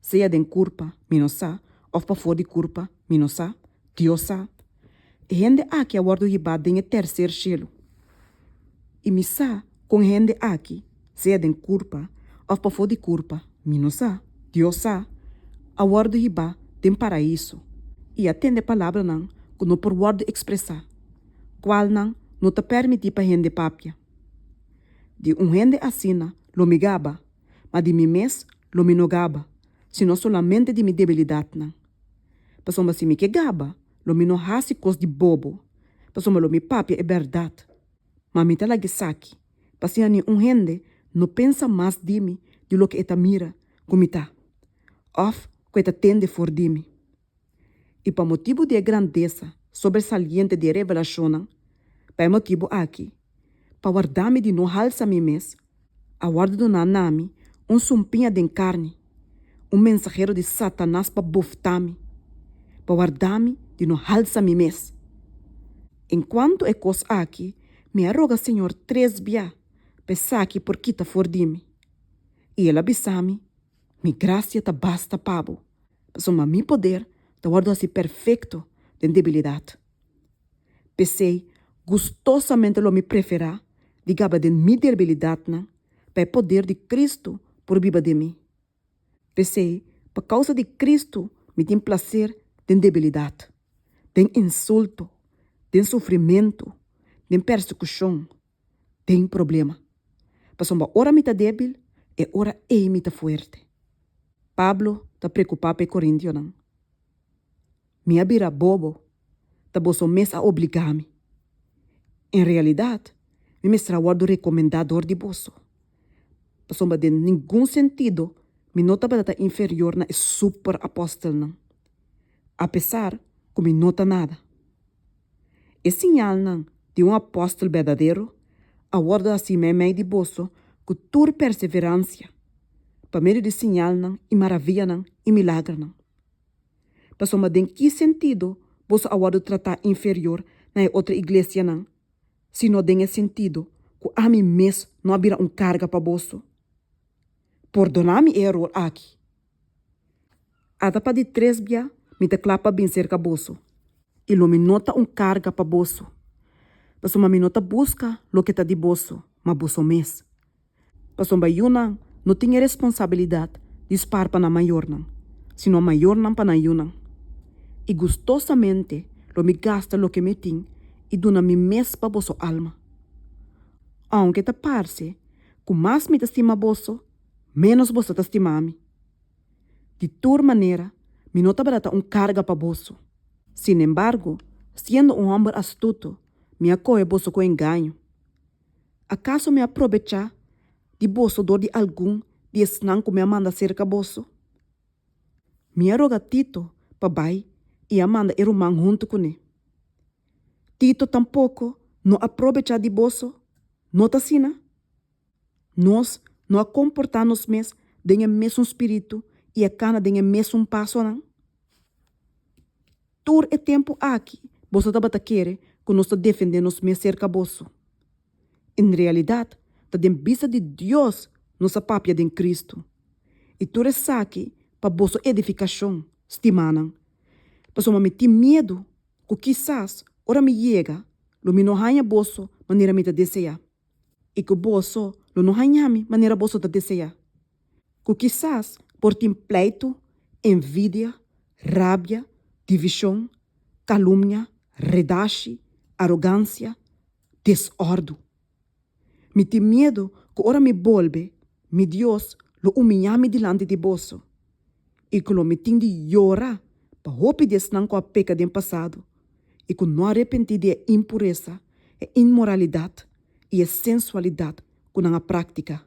Sea den curpa, mi no sa, of pafor di curpa, mi no sa, Dios sa. E hende aki a wordo hiba den e tercer cielo. I mi sa con e hende aki, sea den curpa, of pafor di curpa, mi no sa, Dios sa, a wordo hiba den Paraiso, i a tende palabranan cu no por wordo expresa, cualnan no ta permiti pa hende papia. Di un hende asina lo mi gaba, ma di mi mes lo mi no gaba, sino solamente di mi debilidadnan. Pasobra si mi ke gaba, lo mi no hasi kos di bobo, pasobra lo mi papia e bèrdat. Ma mi ta laga esaki, pa asina ningun hende no pensa mas di mi di loke e ta mira ku mi ta òf ku e ta tende for di mi. I pa motibu di e grandesa sobersaliente di e revelashonnan, pa e motibu aki, pa wardá mi di no halsa mi mes, a wòrdu doná na mi un sumpiña den karni, un mensahero di Satanas pa buftá mi, pa wardá mi di no halsa mi mes. En kuantu e kos aki, mi a roga Señor tres bia pa esaki por kita for di mi. I el a bisa mi, Mi gracia ta basta pa bo, pasobra mi poder ta wòrdu hasi perfecto den debilidad. P'esei, gustosamente lo mi preferá di gaba den mi derbilidadnan, pa e poder di Cristo por biba den mi. P'esei, pa causa di Cristo mi tin placer den debilidad, den insulto, den sufrimento, den persecucion, den problema. Pasobra ora mi ta débil, e ora ei mi ta fuerte. Pablo ta preokupá pa e korintionan, Mi a bira bobo, ta boso mes a obligá mi. En realidat, mi mester a wòrdu rekomendá dor di boso. Pasobra den ningun sentido mi no tabata ta inferior na e super apòstelnan, apesar ku mi no ta nada. E siñalnan di un apòstel berdadero a wòrdu hasi meimei di boso ku tur perseveransia pa medio di siñalnan i maravianan i milagernan. Pasobra den ki sentido boso a wòrdu tratá inferior na e otro iglesianan? sino den e sentido cu ami mes no a bira un carga pa boso. Pordona mi e eror aki. Ata pa di tres bia mi ta cla pa bin cerca boso, y lo mi no ta un carga pa boso, pasobra mi no ta busca loke ta di boso, ma boso mes. Pasobra yunan no tin e responsabilidat di spar pa nan mayornan, sino mayornan pa nan yunan. I gustosamente lo mi gasta loke mi tin i duna mi mes pa boso alma. Aunke ta parse ku mas mi ta stima boso, ménos boso ta stima ami. Di tur manera, mi no tabata ta un karga pa boso. Sinembargo, siendo un hòmber astuto, mi a kohe boso ku engaño. Akaso mi a probechá di boso dor di algun di esnan ku mi a manda serka boso? Mi a roga Tito pa bai i a manda e ruman huntu kuné. Tito tampoko no a probechá di boso, no ta asina? Nos no a komportá nos mes den e mesun spiritu i a kana den e mesun pasonan? Tur e tempu aki boso tabata kere ku nos ta defendé nos mes serka boso. En realidad, ta den bista di Dios nos a papia den Cristo. I tur esaki pa boso edificacion, stimanan. Pasobra mi tin miedu ku kisas ora mi yega lo mi no haña boso manera mi ta deseá. i ku boso lo no haña mi manera boso ta deseá, ku kisas por tin pleitu, envidia, rabia, divishon, kalumnia, redashi, arogansia, desòrdu. Mi tin miedu ku ora mi bolbe, mi Dios lo umiñá mi dilanti di boso. i ku lo mi tin di yora pa hopi di esnan ku a peka den pasado i ku no a repentí di e impuresa, e inmoralidat i e sensualidat ku nan a práktika.